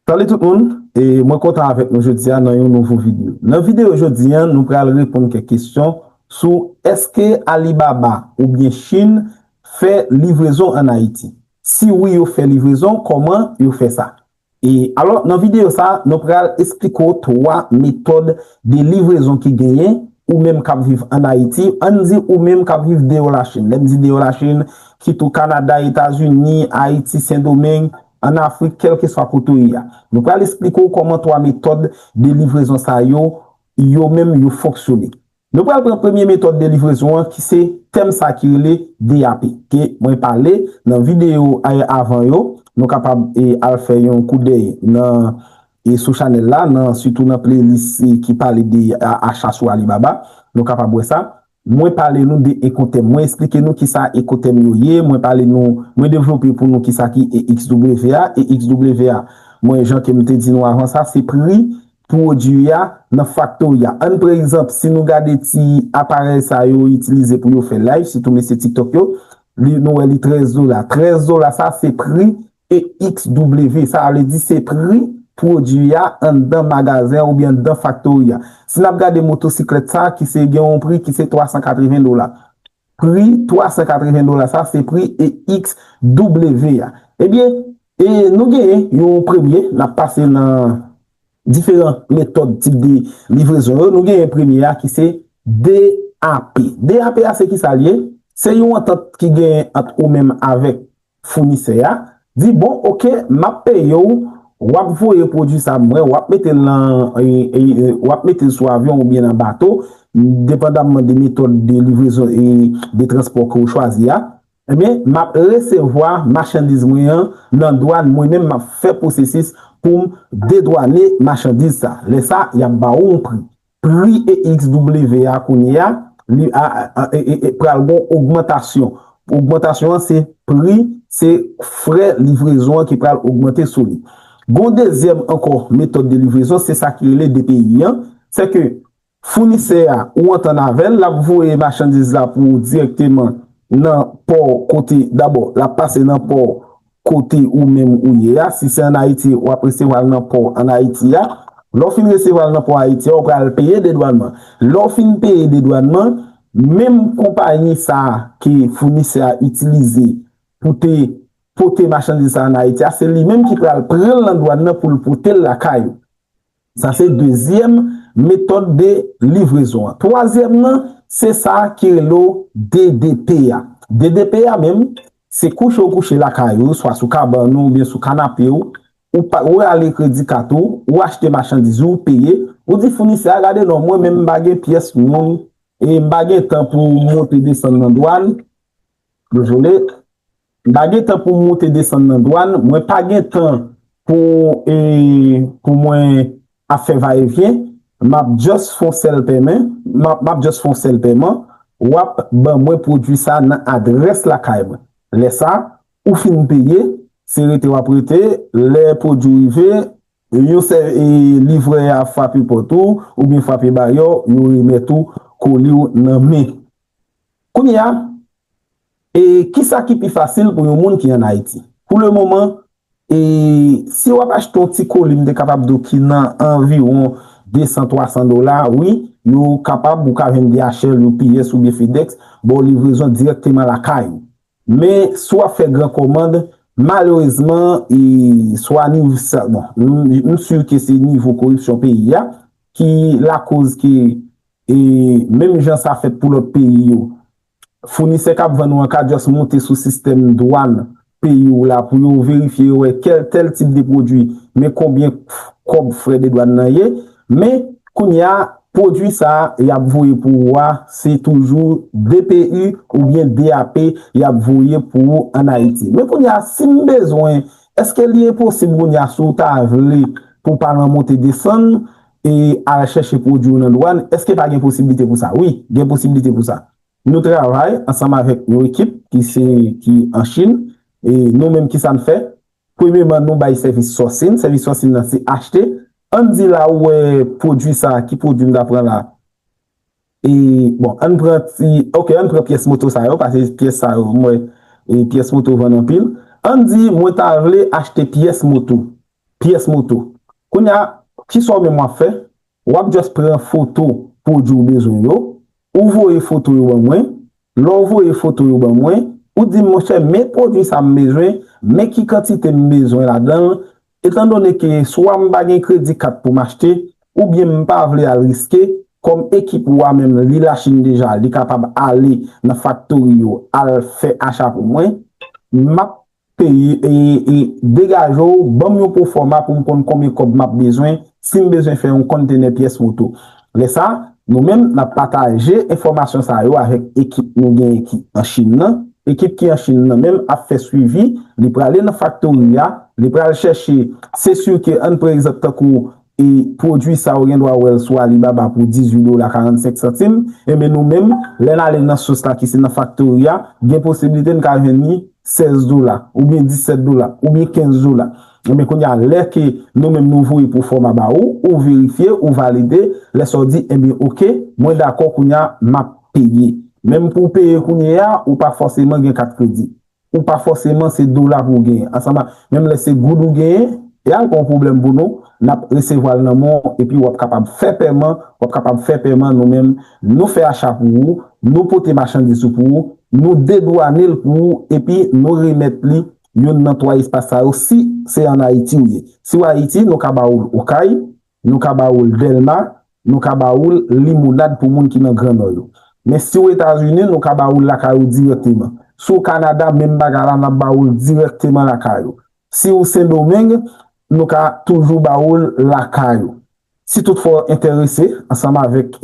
Salut tout moun, e mwen kontan avèk nou jodia nan yon nouvo video. Nan video jodi an nou pral reponn kèk kesyon sou eske Alibaba oubyen Chine fè livrezon an Ayiti? Si wi yo fè livrezon kòman yo fè sa? E alò nan video sa nou pral esplike w 3 metòd de livrezon ki genyen ou menm kap viv an Ayiti, ann di ou menm kap viv deyò la Chine, lèm di deyò la Chine kit ou Canada, Etazini, Ayiti, Sendomeng, an Afrik kèlkeswa kote w ye a. Nou pral esplike w kòman 3 metòd de livrezon sa yo, yo menm yo fonksyone. Nou pral pran premye metòd de livrezon an ki se tèm sa ki rele DAP ke mwen pale nan videyo avan yo, nou kapab al fè yon koudèy nan sou chanèl la nan sitou nan playlist ki pale de acha sou Alibaba, nou kapab wè sa. Mwen pale nou de ekotèm. Mwen esplike nou kisa ekotèm yo ye, mwen pale nou, mwen devlope pou nou kisa ki EXW a. EXW a, mwen jan ke m te di nou avan sa, se pri pwodui a nan faktori a. Ann pran egzanp, si nou gade ti aparèy sa yo itilize pou yo fè live, sitou mesye tiktok yo, li, nou wè li 13 dola. 13 dola sa se pri EXW, Sa vle di se pri pwodui a anndan magazen an oubyen anndan faktori a. Si n ap gade motosiklèt sa a ki se gen yon pri ki se 380 dola. Pri 380 dola sa a se pri EXW a. Ebyen, e nou genyen yon premye, n ap pase nan diferan metòd tip de livrezon yo. Nou genyen premye a ki se DAP. DAP a se kisa l ye? Se yon antant ki genyen ant ou menm avèk Founisè a, di bon ok map peye w wap voye pwodwi sa mwen wap mete l nan wap mete l sou avyon ou byen nan bato depandamman de metòd de livrezon e de transpò ke w chwazi a ebyen map resevwa machandiz mwen an nan dwàn mwen menm map fè pwosesis pou m dedwane machandiz sa lè sa yap ba w yon pri Pri EXW a kounye a, li a, e pral gon ogmantasyon. Ogmantasyon an se pri, se frè livrezon an ki pral ogmante sou li. Gon dezyèm ankò metòd de livrezon, se sa ki rele DPI an, se ke founisè a ou antann avè l, l ap voye machandiz la pou ou dirèkteman nan pò kote, dabò l ap pase nan pò, Kote ou menm ou ye a, si se an Ayiti wap resevwa l nan pò an Ayiti a, lè w fin resevwa l nan pò Ayiti a ou pral peye dedwànman. Lè w fin peye dedwànman, menm konpayi sa ke founisè a itilize pou te pote machandiz sa an Ayiti a, se li menm ki pral pran l nan dwàn nan pou l pote l lakay ou. Sa se dezyèm metòd de livrezon an. Twazyèm nan, se sa ki rele w DDP a. DDP a menm, se kouche ou kouche lakay ou, swa sou kabann ou oubyen sou kanape w, ou pa, ou rale kredi kat ou, ou achte machandiz ou, ou peye, ou di founisè a gade non mwen menm m pa gen pyès moun e m pa gen tan pou monte desann nan dwàn, dezole, M pa gen tan pou m moute desann nan dwann, mwen pa gen tan pou e pou mwen ap fè va e vyen, map just fon sèl pèmen, map just fon sèl pèman, wap ban mwen pwodwi sa nan adrès lakay mwen. Lè sa, ou fin peye, se rete wap rete, lè pwodwi rive, yon sè e livrè a fwape pòt ou, oubyen fwape baryè w, yo remèt ou koli w nan men. Kounye a. E kisa ki pi fasil pou yon moun ki an Ayiti? Pou le moman, e si wap achte yon ti koli m te kapab di w ki nan anviwon 200, 300 dola, wi, yo kapab, ou ka jwenn DHL, UPS oubyen FedEx, ba w livrezon dirèkteman lakay ou. Men, si wap fè gran kòmand, malerezman, e swa niv sa, bon, m si ke se nivo koripsyon peyi a, ki lakoz ke, e menm jan sa fèt pou lòt peyi yo, Founisè kap vann ou an ka just monte sou sistèm dwàn peyi ou la pou yo verifye yo wè kèl tèl tip de pwodwi men konbyen kòb frè de dwàn nan ye men kounye a pwodwi sa yap voye pou ou a se toujou dpu oubyen DAP yap voye pou ou an Ayiti men kounye a sim bezwen èske li enposib kounye a si ou ta vle pou pa lan monte desann e al chèche pwodwi yo nan dwàn, èske pa gen posiblite pou sa? Wi, gen posiblite pou sa. Nou travay ansanm avèk yon ekip ki se ki an Chin. E nou menm ki sa n fè? Premyeman, nou bay sèvis sourcing. Sèvis sourcing nan se achte. An n di la ou wè pwodwi sa a, ki pwodwi m ta pran la? E bon ann pran ti ok ann pran pyès moto sa yo pase pyès sa yo m wè e pyès moto vann anpil ann di mwen ta vle achte pyès moto pyès moto kounya kisa w menm wap fè wap just pran foto pwodwi w bezwen yo ou voye foto yo ban mwen lè w voye foto yo ban mwen ou di m monchè men pwodwi sa m bezwen men ki kantite m bezwen ladan l Etan done ke swa m pa gen kredi kat pou m achte, oubyen m pa vle al riske, kòm ekip ou a menm li Lachin deja li kapab ale nan faktori yo al fè acha pou mwen, m ap peye ee degaje w ban m yon pwofòma pou m konn konbyen kòb m ap bezwen si m bezwen fè yon konntenè pyès moto. Lè sa, nou menm n ap pataje enfòmasyon sa yo avèk ekip nou genyen ki an Chin nan. Ekip ki an Chin nan menm ap fè swivi, li prale nan faktori a, li pral chèche se si ke an pran egzanp tankou e pwodui sa ou gen dwa wè l sou Alibaba pou 18 dola 45 santim, enben nou menm lè n ale nan sous la ki se nan faktori a, gen posiblite n ka jwenn li 16 dola, oubyen 17 dola, oubyen 15 dola. Ebyen kounya lè ke nou menm nou voye pou fòma ba ou, ou verifye, ou valide, lè sa ou di ebyen ok, mwen dakò kounya map peye. Menm pou w peye kounyeya, ou pa fòseman gen kat kredi. Ou pa fòseman se dola pou w genyen. Ansanm ak menm lè se goud ou genyen, e al pa yon pwoblèm pou nou, nap resevwa l nan men w epi wap kapab fè pèman, wap kapab fè pèman nou menm nou fè acha pou ou, nou pote machandiz ou pou ou, nou dedwane l pou ou epi nou remèt li youn nan twa espas sa yo si se an Ayiti ou ye. Si w Ayiti, nou ka ba ou l Okay, nou ka ba ou l Dèlma, nou ka ba ou l Limonad pou moun ki nan Gran Nò yo. Men si w Etazini, nou ka ba ou l lakay ou dirèkteman. Si w Kanada, menm bagay la, n ap ba ou l dirèkteman lakay ou. Si w Sendomeng, nou ka toujou ba ou l lakay ou. Si toutfwa w enterese, ansanm avèk.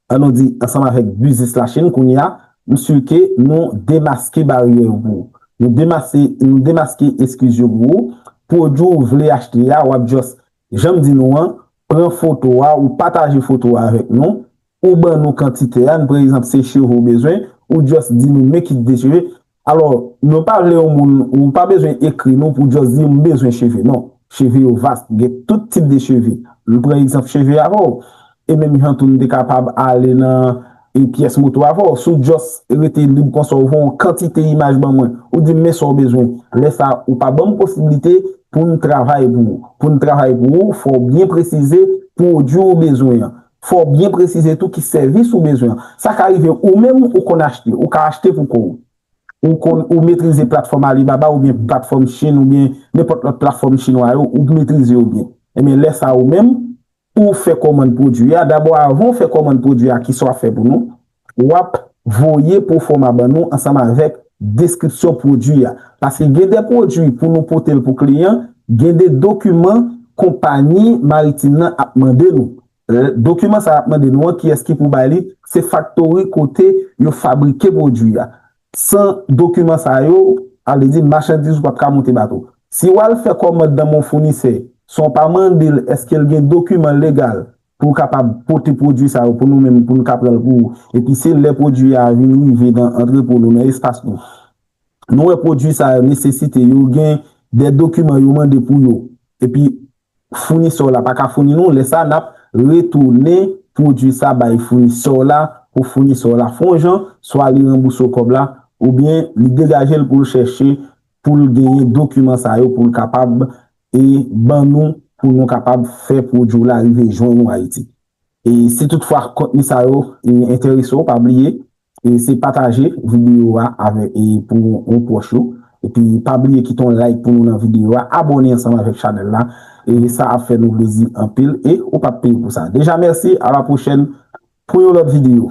An nou di, ansanm avèk biznis Lachin kounye a, msye ke nou demaske baryè yo pou ou. Nou demase, nou demaske eskiz yo pou ou. Pwodui ou vle achte a, wap just, jan m di nou an, pran foto a, ou pataje foto a avèk nou, ou ban nou kantite a, n pre egzanp se cheve ou bezwen, ou just di nou men kit de cheve, Alò, nou pa vle yon moun, ou pa bezwen ekri nou pou just di m bezwen cheve non. Cheve yo vast, gen tout tip de cheve. M pran egzanp cheve avè w, e menm jan tou m te kapab ale nan e pyès moto avè w. Si w just rete lib konsa ou voye yon kantite imaj ban mwen, ou di m men sa w bezwen, lè sa ou pa ban m posiblite pou m travay pou ou. Pou n travay pou ou, fò w byen presize pwodui ou bezwen an. Fò w byen presize tou ki sèvis ou bezwen. Sa ka rive ou menm ou konn achte, ou ka achte pou kò w. Ou konn ou metrize platfòm Alibaba oubyen platfòm Chine oubyen nenpòt lòt platfòm chinwa yo, ou metrize yo byen. Ebyen lè sa ou menm ou fè kòmand pwodwi a, dabò avan ou fè kòmand pwodwi a kisa w ap fè pou nou? Wap voye pwofoma ban nou ansanm avèk deskripsyon pwodwi a. Paske gen de pwodwi pou nou pote l pou kliyan, gen de dokiman konpayi maritim nan ap mande nou. Dokiman sa ap mande nou an kiyès ki pou bay li, se faktori kote yo fabrike pwodwi a. San dokiman sa yo, sa vle di machandiz ou pap ka monte bato. Si wal fè kòmand nan men yon founisè, san w pa mande l eske l gen dokiman legal pou kapab pote pwodui sa yo pou nou menm pou nou ka pran l pou epi se lè pwodui a vin rive nan antrepo nou nan espas nou nou wè pwodui sa yo nesesite yo gen de dokiman yo mande pou yo epi founisè w la pa ka founi nou lè sa n ap retounen pwodui sa bay founisè w la pou founisè w la fon jan swa li ranbouse w kòb la oubyen li degaje l pou l chèche pou l genyen dokiman sa yo pou l kapab e ban nou pou nou kapab fè pwodui w la rive jwenn ou Ayiti. E si tout fwa kontni sa yo enterese w pa bliye se pataje videyo a pou yon pwòch ou epi pa bliye kite yon like pou nou nan videyo a abòne ansanm avèk chanèl la sa ap fè nou plezi anpil e ou pap peye pou sa deja mèsi a la pwochèn pou yon lòt videyo.